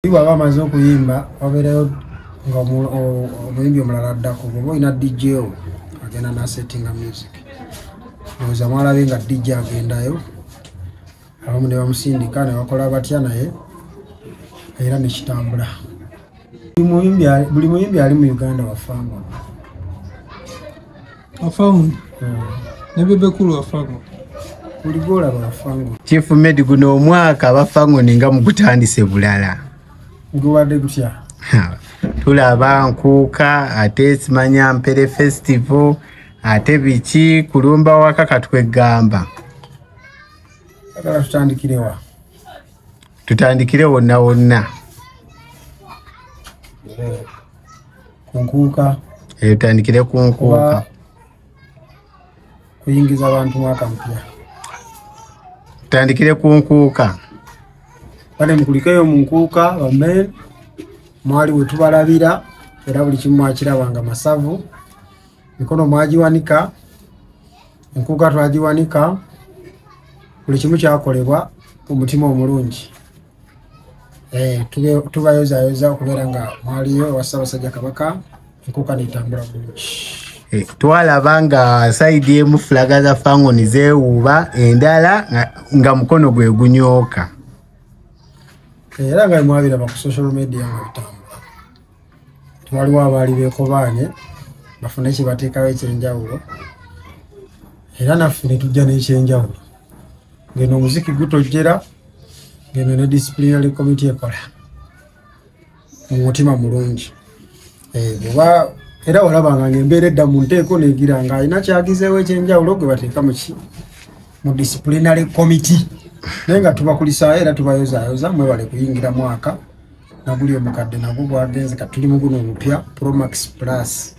bwaba amaze okuyimba wabeerayo nga omuyimbi omulala addako oba olina dj o agenda nasettinga music oza mwalabe nga dj agendayo abamu ne bamusindika ne bakola batya naye era nekitambula buli muyimbi ali mu uganda wafangono afangu ne bebe kulu afangu kuligola bafangu chief med guno omwaka abafangu ninga mugutandise bulala guwade gutya tulaba nkuuka ate simanya mpere festival ate biki kulumba waka katwegamba tutandikirewa tutandikire wonna wonna yeah. ku nkuuka eh, tandikire ku nkuuka kuyingiza abantu mwaka mpya tandikire ku nkuuka kale mukulikeyo mu nkuuka bamen mwali wetubalabira era buli kimu mwakiraba nga masavu mikono mwagiwanika enkuuka twagiwanika buli kimu kyakolebwa omutima omulungi eh, tubayozayoza okubeera nga mwaliyo owa ssaabasajja kabaka enkuka netambula bulungi eh, twalaba nga saidi emu fulaga za fangoni zewuuba endala nga mukono gwe gunyooka eh, era nga mwabiraba ku social media nga bitambula waliwo abaali bekobaanye bafune kibateekawo ekyenjawulo era naffe netujja n'ekyenjawulo ngeno omuziki gutojjera ngeno ne disciplinary committee ekola mu mutima mulungi eh, oba era walabanga ngaembeera edda mu nteeko negira nga alina kyagizeewo ekyenjawulo gwe bateeka muki mu disciplinary committee naye nga tubakulisaayo era tubayozayoza mwebale kuyingira mwaka naguli omukadde nagwo gwagenze kati tuli muguno omupya promax plus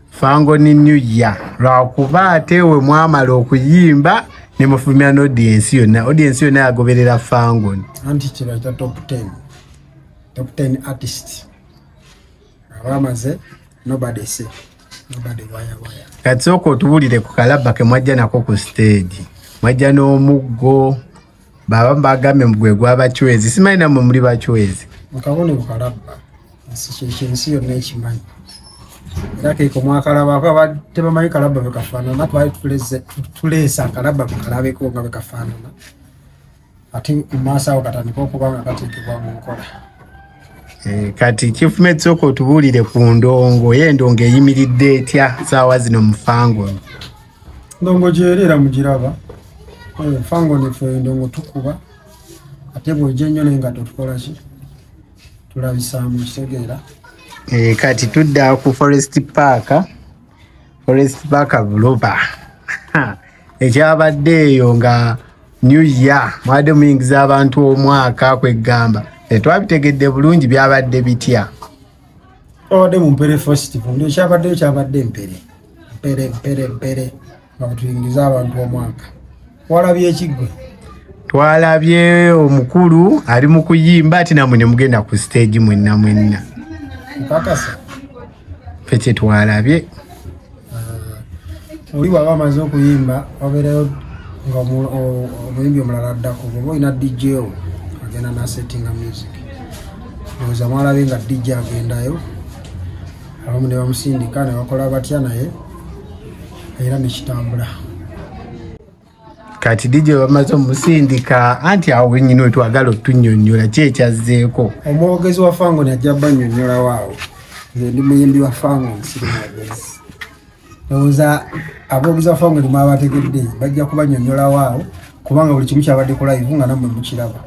fango ni new year lwakuba ate we mwamala okuyimba nemufumira nodiensi yonna odiensi yonna yagoberera fangon anti kibaita top 10 top 10 artist abamaze nobody say nobody waya waya kati sooka otubulire ku kalabba kemwajja nako ku stage mwajja n'omuggo baba mbagambye mugwe gwa bachwezi simanyi namwe muli bachwezi mukabone bukalabba nsikyekyo ensi yonna ekimanyi era keiko mwakalaba kaba tebamanyi kalabba bekafaanana twali tuleesa kalabba mukalabeko nga bekafaanana ate mumaaso awo katandika okuba nga kateekebwa mu nkola eh, kati kifumetsoka otubuulire ku ndongo ye endongo eyimiridde etya saawa zino mufangono ndongo gyerera mugiraba oyo fango nefe ndongo tukuba ate bwejja ennyo naye nga totukolaki tulabisaamu kitegeera eh, kati tudda ku forest park forest park buloba ekyabadde eyo nga new year mwabadde muyingiza abantu omwaka kwegamba tetwabitegedde bulungi byabadde bitya twabadde mu mpere festival ndio kyabaddeyo kyabadde mpere mpere mpere mpere bakutuyingiza abantu omwaka walabye ekiggwe twalabye omukulu ali mu kuyimba ati namwe ne mugenda ku stage mwenna mwenna okakasa fe kyetwalabye uh, oli waba amaze okuyimba wabeerayo nga omuyimbi omulala addako oba olina dj o agenda nasettinga music oza mwalabe nga dj agendayo abamu ne bamusindika ne bakola batya naye era nekitambula kati dj bamaze omusindika anti awo wenyini wetwagala otunyonyola ki ekyazzeeko omwogezi wa fango najja banyonyolawo awo nze ndi muyimbi wa fango nsiri mwogezi ndowooza aboogezi wa fango limu abategedde bajja kubanyonyolawo awo kubanga buli kimu kyabadde kulayivu nga namwe mukiraba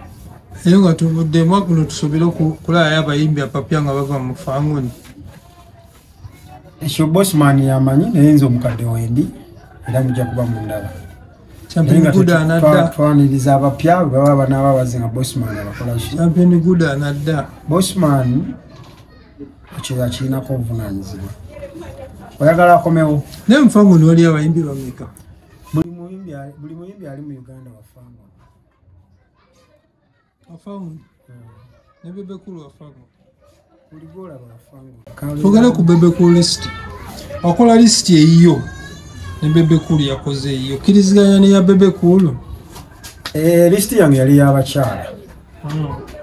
naye nga tuvuddemu akuno tusobere okukulaayo abayimbi apapya nga bava mu fangoni ekyo bosman yamanyi naye nze omukadde wendi era mujja kuba mundaba twaniriza abapya bwebaba banaaba bazi nga bosman abakolakibosman ekyo yakirinako obuvunanyizibwa oyagala akomewo naye mufamu noli abayimbi bameka buli muyimbi ali mu uganda wafamu tugere ku bebeku list wakola list eyiyo ne bebeku yakoze eyiyo kiriziganya neya bebeku lo eh, list yange yali yabakyala hmm.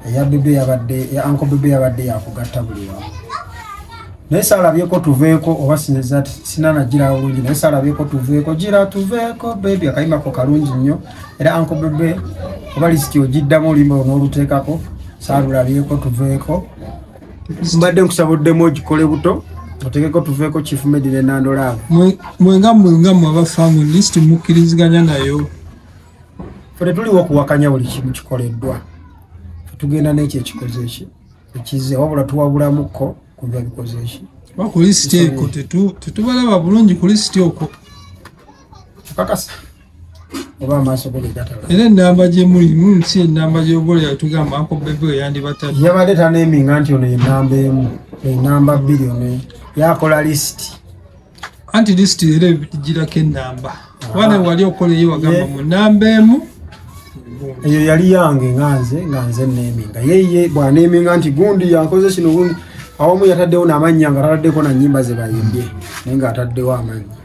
eya bebe yabadde ya anko bebe yabadde yakugatta buli wamu naye salabyeko tuveeko oba sinza sinanagirawo bulungi naye salabyeko tuveeko gira tuveeko bebi akayimako kalungi nnyo era anko bebe oba lisiti ogiddamu olimba onoluteekako salulabyeko tuveeko mbadde nkusaba oddemu ogikole buto otekeko tuveeko chief medire nandolaa mwenga mwenga mwaba famu lisiti mukkiriziganya nayo fe tetuliwo okuwakanya buli kimu kikoleddwa tugenda nekyo ekikoze ki ekize wabula tuwabulamukko kuva bikoze ki kulisiti eko tetubalaba bulungi kulisiti okwo kakasa era enamba gyemuli mm, si enamba gyobola yatugamba ako bebe eyandibatadde yabadde taneminga nti ono enamba emu enamba bbiri ono yakola lisiti anti lisiti era egirako enamba kubana wali okoleyo wagamba mu namba emu eyo yali yange nga nze nga nze neminga yeye bwaneminga nti gundi yankoze kino gundi awamu yataddewo namannya nga tataddeko nanyimba zebayimbye naye nga ataddewo amannya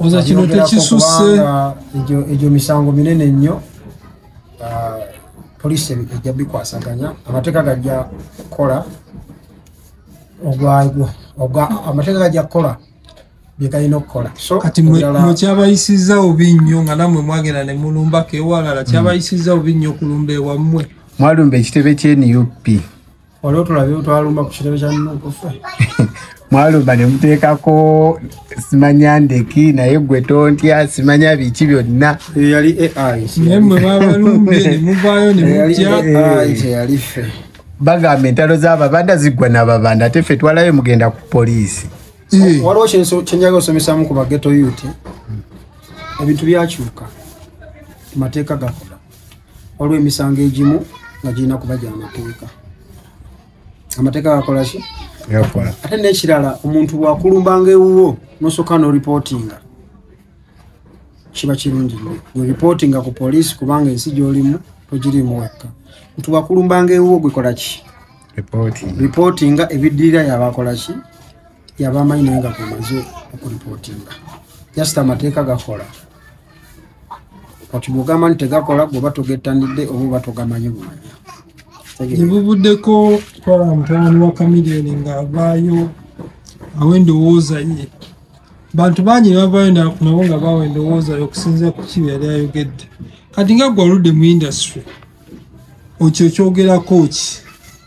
oza kino Abyongerako tekisusse kubanga egyo egyo misango minene nnyo Ah, poliisi ebi- ejja bikwasaganya amateeka gajja kukola ogwa- ogwa- ogwa- amateeka gajja kukola bye galina okukola so kati mwe ebirala- mwe kyabayisizza obi nnyo nga namwe mwagenda ne mulumbako ewalala kyabayisizza obi nnyo okulumba ewammwe mwalumba ekitebe kya nup wali otulabye twalumba ku kitebe kya nukufa mwalumba ne muteekako simanya ndeki naye gwe tontya simanya biki byonna yali ai naye mwe babalumbye ne muvaayo ne mutya ai teyali ffe bagamba entalo z'ababanda ziggwa n'ababanda ate ffe twalayo mugenda ku poliisi waliwo kyenjaga osomesamu ku bageto yuti ebintu byakyuka mateeka gakola waliwo emisango egimu nga girina kuba gya mateeka amateeka gakolaki ate n'ekirala omuntu bwakulumbanga ewuwo nosooka noripootinga kiba kirungi nyo weripootinga ku poliisi kubanga ensi gyolimu togirimu wekka nti bwakulumbanga ewuwo gwekolaki ripootinga ebiddirira yabakolaki yabamanyi naye nga gamaze okuripootinga jasita amateeka gakola kati bwogamba nti tegakola gwoba togettanidde oba oba togamanyi bumanya ebuvuddeko twala mutabani wa kamilioni ng'avaayo awo endowooza ye bantu bangi nebavaayo nabo nga bawa endowooza ye okusinzira ku kibi yali ayogedde kati nga gwe oludde mu industry okyo kyogerako ki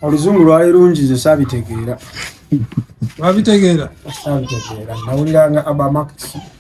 oluzungu lwali lungi ze saabitegeera wabitegeera saabitegeera nawuliranga abamaxi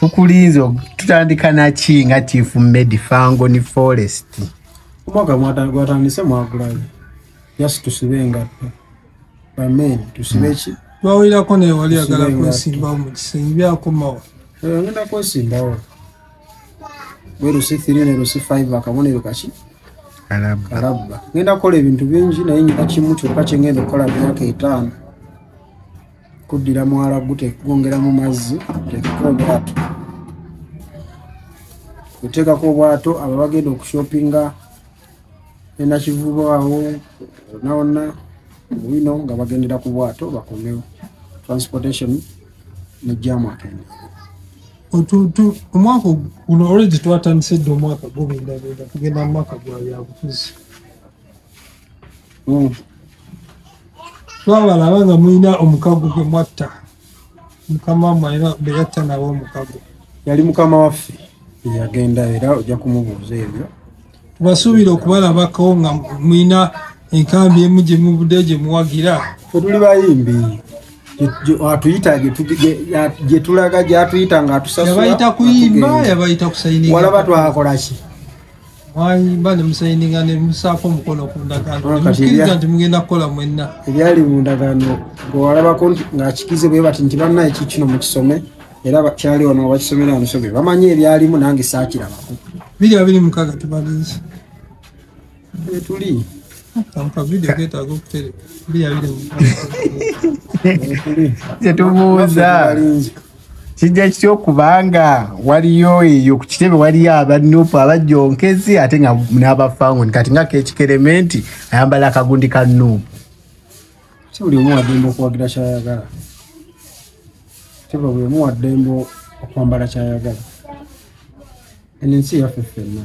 tukulinze tutandika naki nga chief medi fango ni forest omwaka gwatandise mwagulayo just tusibe engatto bamen tusibe hmm. ki twawulirako naye wali agala kwesimbawo mu kisenge byakomawo eh, agenda kwesimbawo werusi thiri nerusi five akabonero kaki alabba ngenda kukola ebintu bingi naye nyina kimu kyokka kyengenda okukola myaka etaano kuddira mwala gutegongera mu mazzi tekeka obwato oteekako obwato aba bagenda okushopinga enakivubo awo onawonna wino nga bagendera ku bwato bakomewo transportation nejjamu akende omwaka guno olwegi twatandise dde omwaka gubindabinda kugenda mu mwaka gwa byabufuzi hmm. twabalaba nga mulina omukago gwe mwatta mukama wamwe era beyatta nawe omukago yali mukama waffe eyagenda era ojja kumubuuza ebyo tubasuubira okubalabako nga mulina enkambi emu gye mubudde gye muwagira fetuli bayimbi atuyita gyetulaga gyatuyita nga atusayabayita kuyimba yabayita kusayinwalaba twakolaki mwayimba ne musayininga ne musaako omukono ku ndagaano ah, nemukiriza nti mugenda kukola mwenna ebyali mu ndagaano gwewalabako ng'akikize bwe bati nti banna eki kino mukisome era kyali ono abakisomera omusomi bamanyi ebyalimu nange saakirabako biri abiri mukaga tubalinzi etuli tetubuuza kijja kitya okubanga waliyo eyo ku kitebe waliyo abanupu abajonkezi ate nga n'abafangoni kati nga kekikerementi ayambala akagundi ka nupu si buli omu waddembe okuwagira kyayagala teba buli omu waddembe okwambala kyayagala eno ensi yaffe ffenna